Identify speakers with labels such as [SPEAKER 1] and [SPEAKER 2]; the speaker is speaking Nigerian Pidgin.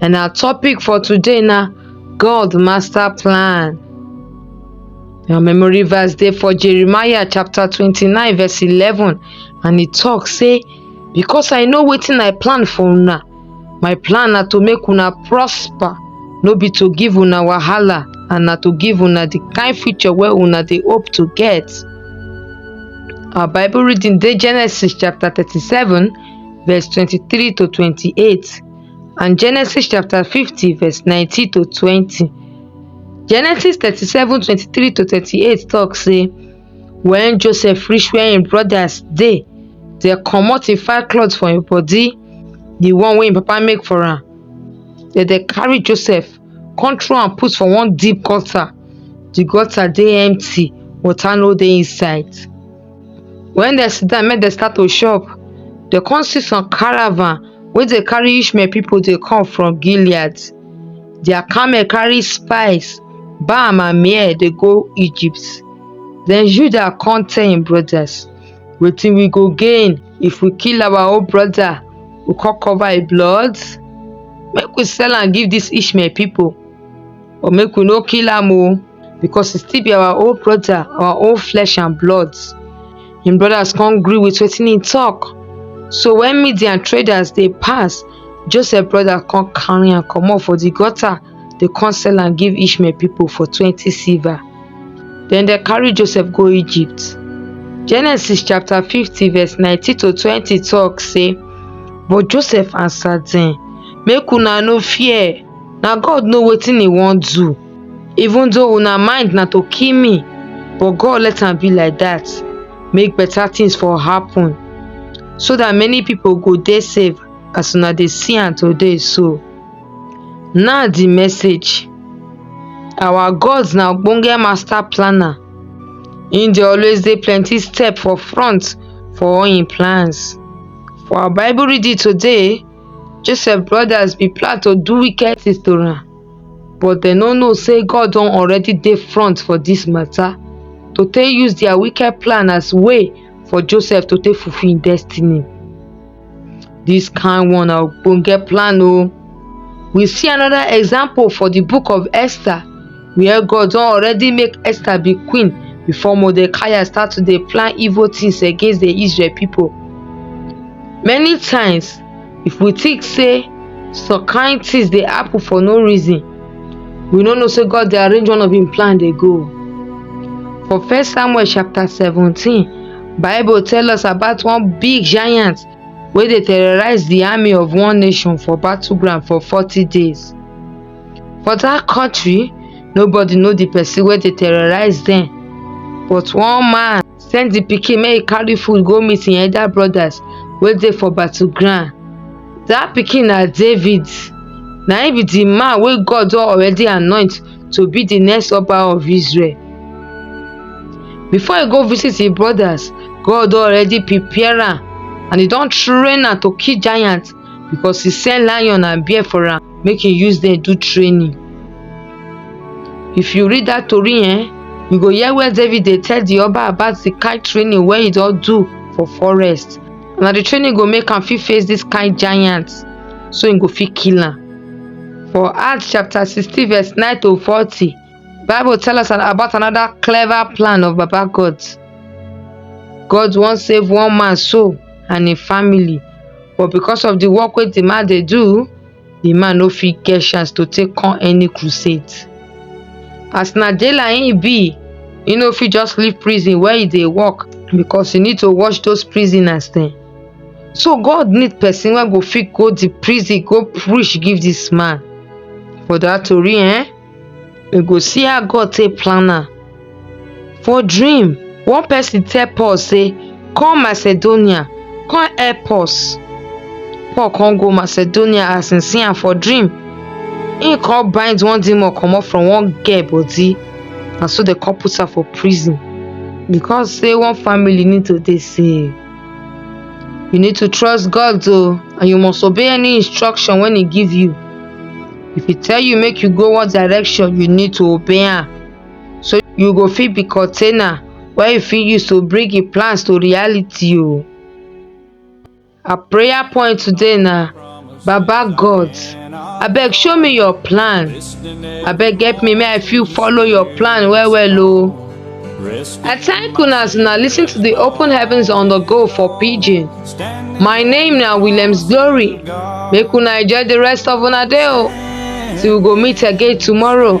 [SPEAKER 1] and our topic for today na God master plan. Our memory verse dey for Jeremiah chapter twenty-nine verse eleven and e talk say because I know wetin I plan for una my plan na to make una prosper no be to give una wahala and na to give una the kind future wey una dey hope to get. Our Bible reading dey Genesis chapter thirty-seven verse twenty-three to twenty-eight. and Genesis chapter 50, verse 19 to 20. Genesis 37, 23 to 38 talks say, When Joseph reached where his brothers they, they come out in fine clothes for his body, the one way papa make for her. Then they carry Joseph, control and put for one deep gutter. The gutter they empty, water no they inside. When they sit down, make they start to shop. They come see some caravan wey dey carry Ishmael people dey come from Gilead. Their camel carry spice, balm and myrrh dey go Egypt. Then Judah come tell him brothers, wetin we go gain if we kill our own brother, we come cover him blood? Make we sell am give this Ishmael people or make we no kill am o. because e still be our own brother our own flesh and blood him brothers come gree with wetin he talk so when midian traders dey pass joseph brother come carry am comot for the gutter dey come sell am give ishmael people for twenty silver then they carry joseph go egypt genesis chapter fifty verse nineteen to twenty talk say but joseph answer dem make una no fear na god know wetin he wan do even though una mind na to kill me but god let am be like dat make beta things for happen so dat many pipo go dey safe as una dey see am today so now di message our god na ogbonge master planner im dey always dey plenty step for front for all im plans for our bible reading today joseph brothers bin plan to do wicked things to am but dem no know say god don already dey front for dis mata to take use dia wicked plan as way for joseph to take fulfil im destiny dis kain one na ogbonge plan o we see anoda example for di book of esther wia god don already make esther be queen before mordecai start to dey plan evil tins against di israel pipo many times if we think say some kain tins dey happen for no reason we no know say God dey arrange one of im plan dey go. For First Samuel chapter seventeen, Bible tell us about one big giant wey dey terrorize di army of one nation for battleground for forty days. For dat country, nobody know di pesin wey dey terrorize dem but one man send di pikin make e carry food go meet im elder brodas wey dey for battle ground. Dat pikin na David, na im be di man wey God don already anoint to be di next Oba of Israel. Before e go visit im brodas, God don already prepare am and e don train am to kill giant because e send lion and bear for am. make you use there do training if you read that tori eh you go hear where david dey tell the oba about the kind training wey he don do for forest na the training go make am fit face this kind giant so he go fit kill am for acts chapter sixteen verse nine to forty bible tell us an- about another clever plan of baba god god wan save one man soul and him family but because of di work wey di man dey do di man no fit get chance to take come any crusade as na jailer im be e no fit just leave prison where e dey work because e need to watch those prisoners dem so god need person wey go fit go di prison go preach give dis man for dat tori ehn we go see how God take plan am. For dream, one person tell Paul say, come Macedonia, come help us. Paul come go Macedonia as he see am for dream. He come bind one demon comot from one girl body and so they come put am for prison because say one family need to dey safe. You need to trust God though, and you must obey any instruction when He give you. If He tell you make you go one direction, you need to obey am. So you go fit be container wey you fit use to bring your plans to reality o. Oh. Our prayer point today na baba god abeg show me your plan abeg help me make i fit follow your plan well well o i thank una as una lis ten to the open heavens on the go for pidgin my name na williams glory make una enjoy the rest of una day o till we go meet again tomorrow.